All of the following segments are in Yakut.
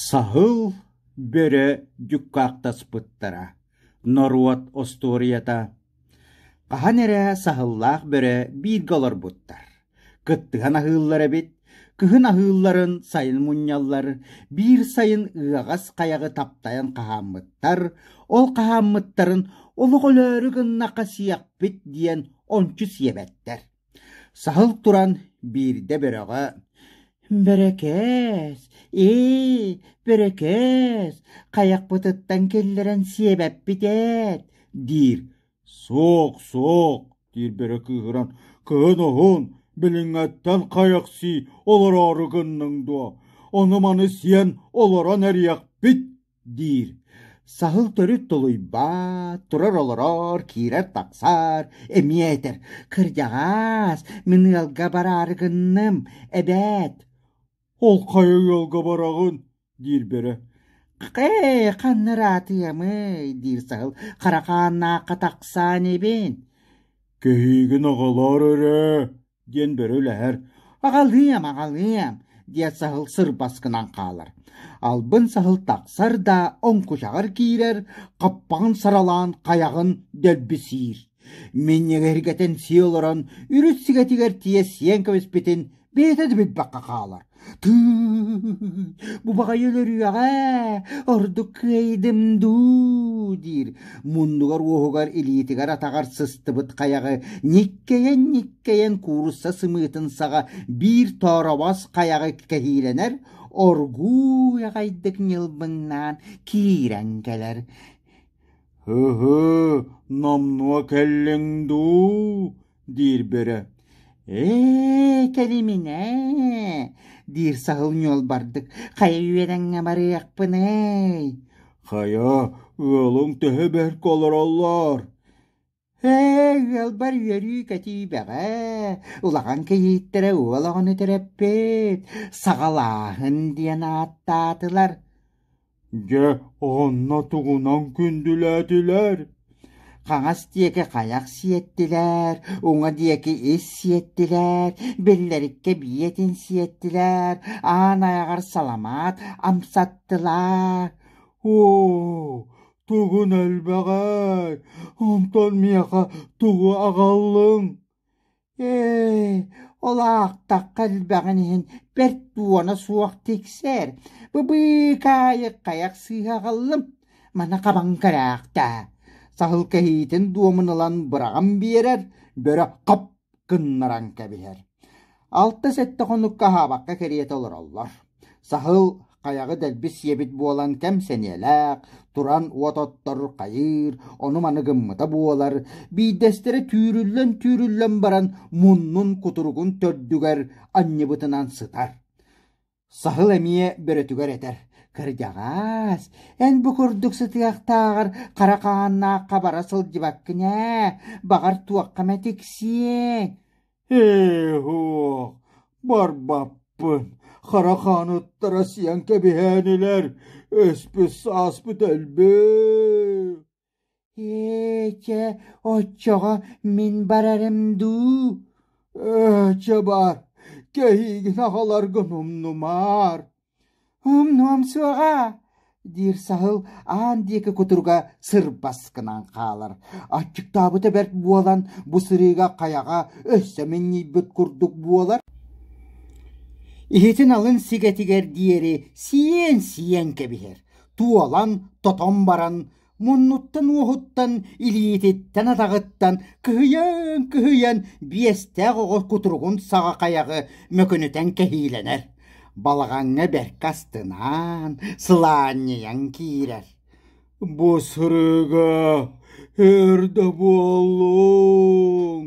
Саһыл бөрө дьуккаахтаспыттара норуот остуоруйата хаһан эрэ саһыллаах бөрө бииргэ олорбуттар кыттыһан аһыыллар эбит кыһын аһыылларын сайын мунньаллар биир сайын ыаҕас хайаҕы таптайан хаһааммыттар ол хаһааммыттарын олох өлөөрү гыннахха сиэхпит диэн ончу сиэбэттэр Саһыл туран биирдэ бөрөҕө «Бөрөкөөс, ээ, бөрөкөөс, хайахпытыттан киллэрэн сиэбэппит эт» диир. «Суох, суох», диир бөрө кыыһыран, «кыһын оһун, билиҥҥэттэн хайахсий олороору гынныҥ дуо? Ону-маны сиэн олорон эриэхпит» диир. Саһыл төрүт тулуйбат, турар-олорор, киирэр-тахсар, эмиэ этэр, «Кырдьаҕаас, мин ыалга бараары гынным, эбээт!» «Ол хайа ыалга бараҕын?» диир бөрө. «Хэ, ханна ыраатыамый?» диир саһыл. «Харахааннаахха тахсаан ибин». «Көһүүгүн оҕолоор өрө!» диэн бөрө үлэһэр «Аҕалыам, аҕалыам» диэт саһыл сырбас гынан хаалар. Албын саһыл тахсар да оҥкучаҕар киирэр, хаппаҕын саралаан хайаҕын дэлбисиир. Минньик эргэтэн сии олорон, үрүс сигэтигэр тиийэ сиэн кэбиспитин бэйэтэ да билбэххэ хаалар. бу баҕайы өлөрүөҕэ ордук кыайдым дуу диир муннугар-уоһугар илиитигэр атаҕар сыстыбыт хайаҕы ньиккэйэн-ньиккэйэн куурусса сымыытын саҕа биир тооробос хайаҕы кэһиилэнэр оргууй аҕайдык ньылбыҥнаан киирэн кэлэр «Һыһы, номнуо кэллиҥ дуу?» диир бөрө ээ кэлимин ээ диир саһыл ньуол бардык хайа үөрэҥҥэ барыахпыный хайа ыалыҥ төһө бэрт олороллор ээ ыалбар үөрүү кэтиибэҕэ улахан кийииттэрэ уол оҕону төрөппүт саҕалааһын диэн ааттаатылар Дьэ, онно тугунан күндүлээтилэр? Хаҥас диэки хайах сиэттилэр, уҥа диэки ис сиэттилэр, биллэриккэ биэтин сиэттилэр, аан айаҕар саламаат амсаттылар. Оо, тугун элбэҕэй, онтон миэхэ тугу аҕаллыҥ? ээ ол аахтахха элбэҕин иһин бэрт дуона суох тиксэр бу быыкаайык хайах сыыһаҕаллым маны хабаҥ кэрээхтээ саһыл кэһиитин дуомун ылан быраҕан биэрэр бөрө хоп гыннаран кэбиһэр алта сэттэ хонукка аһаабакка кэриэтэ олороллор Саһыл хайаҕы дэлби сиэбит буолан кэм сэниэлээх, туран уот оттор, хайыыр, ону-маны гыммыта буолар, биирдэстэрэ түүрүллэн-түүрүллэн баран муннун кутуругун төрдүгэр анньыбытынан сытар. Саһыл эмиэ бөрөтүгэр этэр, «Кырдьаҕас, эн бу курдук сытыахтааҕар хара хааннаах хабара сылдьыбаккын ээ, баҕар туохха эмэ тиксиэҥ». Ээ-оһох, барбаппын, хара хааныттара сиэн кэбиһээн илэр, өспүт-сааспыт элбээх. Эчэ, оччоҕо мин барарым дуу? Ээ, чэ баар, кэһиигин аҕаларгын умнумаар. Умнуом суоҕа, диир саһыл аан диэки кутуруга сырбас гынан хаалар. Аччыктаабыта бэрт буолан, бу сырыыга хайаҕа өссө минньийбит курдук буолар. Иһитин алын сигэтигэр диэри сиэн-сиэн кэбиһэр, туолан, тотон баран, муннуттан-уоһуттан, илиититтэн-атаҕыттан кыһыйан кыһыйан биэстээх оҕо кутуругун саҕа хайаҕы мөкүнүтэн кэһиилэнэр, балаҕаҥҥа бэркэ астынаан, сылаанньыйан киирэр. «Бу сырыыга өр да буоллуҥ!»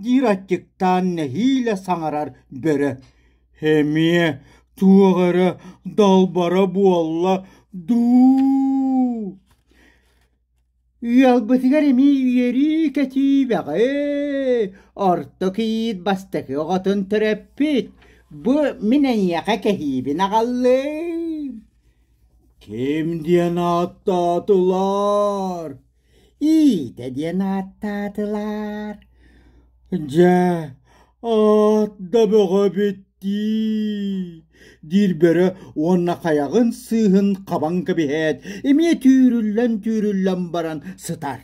диир аччыктаан нэһиилэ саҥарар бөрө эмиэ туох эрэ далбара буолла дуу ыалбытыгар эмиэ үөрүү-көтүү бөҕө орто кийиит бастакы оҕотун төрөппүт бу мин эйиэхэ кэһиибин аҕаллым ким диэн ааттаатылар иитэ диэн ааттаатылар дьэ аат да бөҕөбүт дии диир бөрө уонна хайаҕын сыыһын хабан кэбиһээт эмиэ түүрүллэн түүрүллэн баран сытар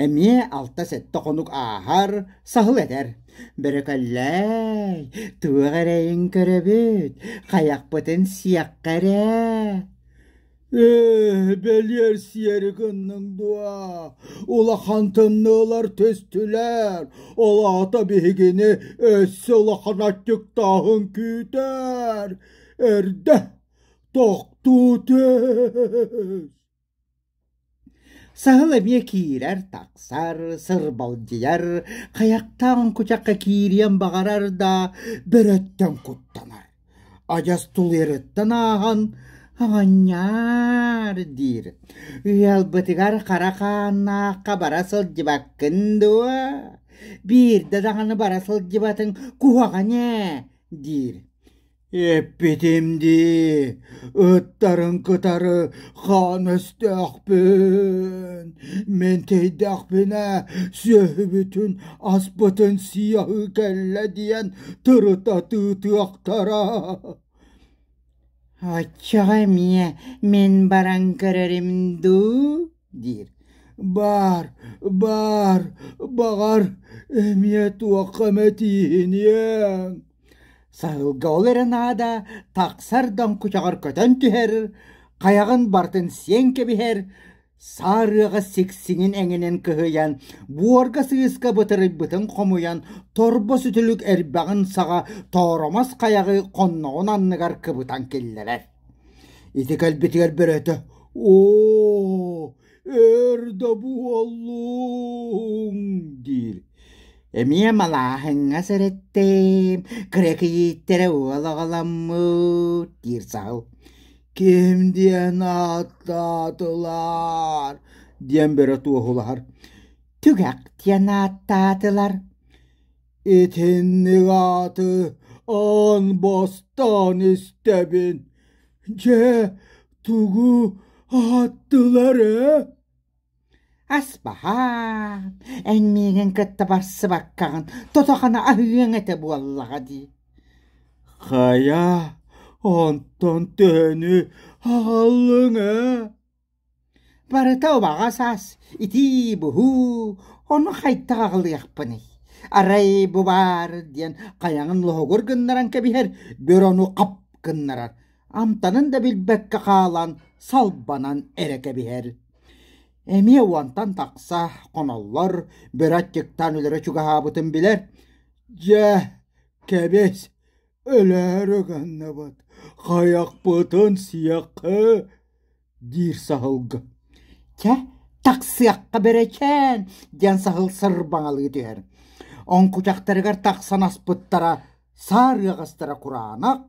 эмиэ алта сэттэ хонук ааһар саһыл этэр бөрөкөллөөй туох эрэйин көрөбүт хайахпытын сиэххэ эрэ ээ бэлиэрсийэри гынныҥ дуо улахан тымныылар түстүлэр ол аата биһигини өссө улахан аччыктааһын күүтэр эрдэ тохтуу түс Саһыл эмиэ киирэр, тахсар, сырбалдьыйар, хайахтаан кучахха киириэн баҕарар да, бөрөттөн куттанар. Адьас тулуйарыттан ааһан «Оҕонньоор» диир. «Ыалбытыгар хара хааннаахха бара сылдьыбаккын дуо? Биирдэ даҕаны бара сылдьыбатыҥ куһаҕан ээ» диир. Эппитим дии, ыттарын кытары хаан өстөөхпүн, мин тиийдэхпинэ сүөһүбүтүн аспытын сыйаһыы кэллэ диэн тырыта тыытыахтара. Оччоҕо эмиэ мин баран көрөрүм дуу диир. «Баар, баар, баҕар, эмиэ туохха эмэтииһиниэҥ» Сайылга ол эрэ наада тахсар доҥкучаҕар көтөн түһэр, хайаҕын барытын сиэн кэбиһэр, саарыаҕа сиксиҥин эҥинэн кыһыйан, буорга сыыска бытырыйбытын хомуйан, торбо сүтүлүк эрбэҕин саҕа тооромос хайаҕы хонноҕун анныгар кыбытан киллэрэр. Ити кэлбитигэр бөрөтө «Оо, өр да буоллуҥ» диир. Эмиэ малааһыҥҥа сэрэттим, кырэкийииттэрэ уол аҕаламмыт диир саал. «Ким диэн ааттаатылар?» диэн бөрө туоһулаһар. «Түгэх» диэн ааттаатылар. Итинник ааты аан бастаан истэбин. Дьэ, тугу ааттылар ээ? Аспаһаа, эн миигин кытта барсыбаккаҕын тото-хана аһыаҥ этэ буоллаҕа дии. Хайа, онтон төһөнү аһаллыҥ ээ? Барыта убаҕа саас, итии-буһуу, ону хайдах аҕалыахпыный? Арай бу баар диэн хайаҕын лоһугур гыннаран кэбиһэр, бөр ону ап гыннарар, амтанын да билбэккэ хаалан, салбанан эрэ кэбиһэр. Эмиэ уонтан тахса хоноллор бөрө аччыктаан өлөрө чугаһаабытын билэр. Дьэ, кэбис, Өлөөрү гынныбыт, хайахпытын сиэххэ, диир саһылга. Чэ, тахсыахха бэрэчээн, диэн саһыл сырбаҥалыы түһэр. Оҥкучахтарыгар тахсан аспыттара, саарыаҕастара кураанах.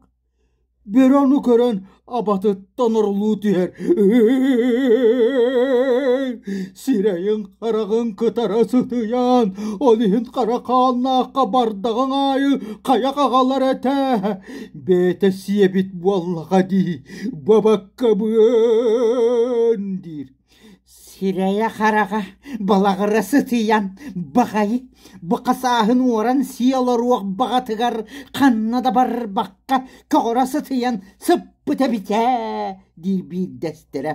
Бөрөнү көрөн абатыттан орулуу түһэр сирэйин-хараҕын кытара сытыйаан ол иһин хара хааннаахха бардаҕын аайы хайа хаҕалар этэ бэйэтэ сиэбит буоллаҕа дии бабаккабыан диир сирэйэ-хараҕа балаҕара сытыйан баҕайы бука сааһын уоран сиэ олоруох баҕатыгар ханна да барбакка көҕөрө сытыйан сыппыт эбит ээ диир биирдэстэрэ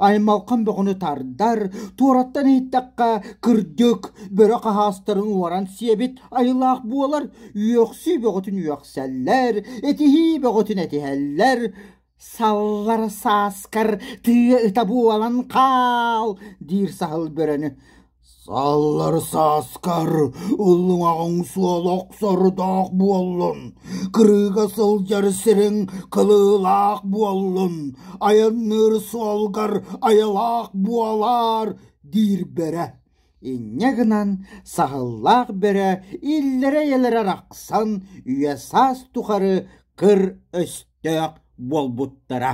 аймалҕан бөҕөнү тардар туораттан иһиттэххэ кырдьык бөрө хаһаастарын уоран сиэбит айылаах буолар үөхсүү бөҕөтүн үөхсэллэр этиһии бөҕөтүн этиһэллэр Саллар сааскар тыа ыта буолан хаал диир саһыл бөрөнү «Саллар сааскар уллуҥаҕыҥ суола охсордоох буоллун, кырыыга сылдьар сириҥ кылыылаах буоллун, айанныыр суолгар айылаах буолаар» диир бөрө. инньэ гынан саһыллаах бөрө иллэрэ-эйэлэрэ арахсан үйэ-саас тухары кыр өстөөх буолбуттара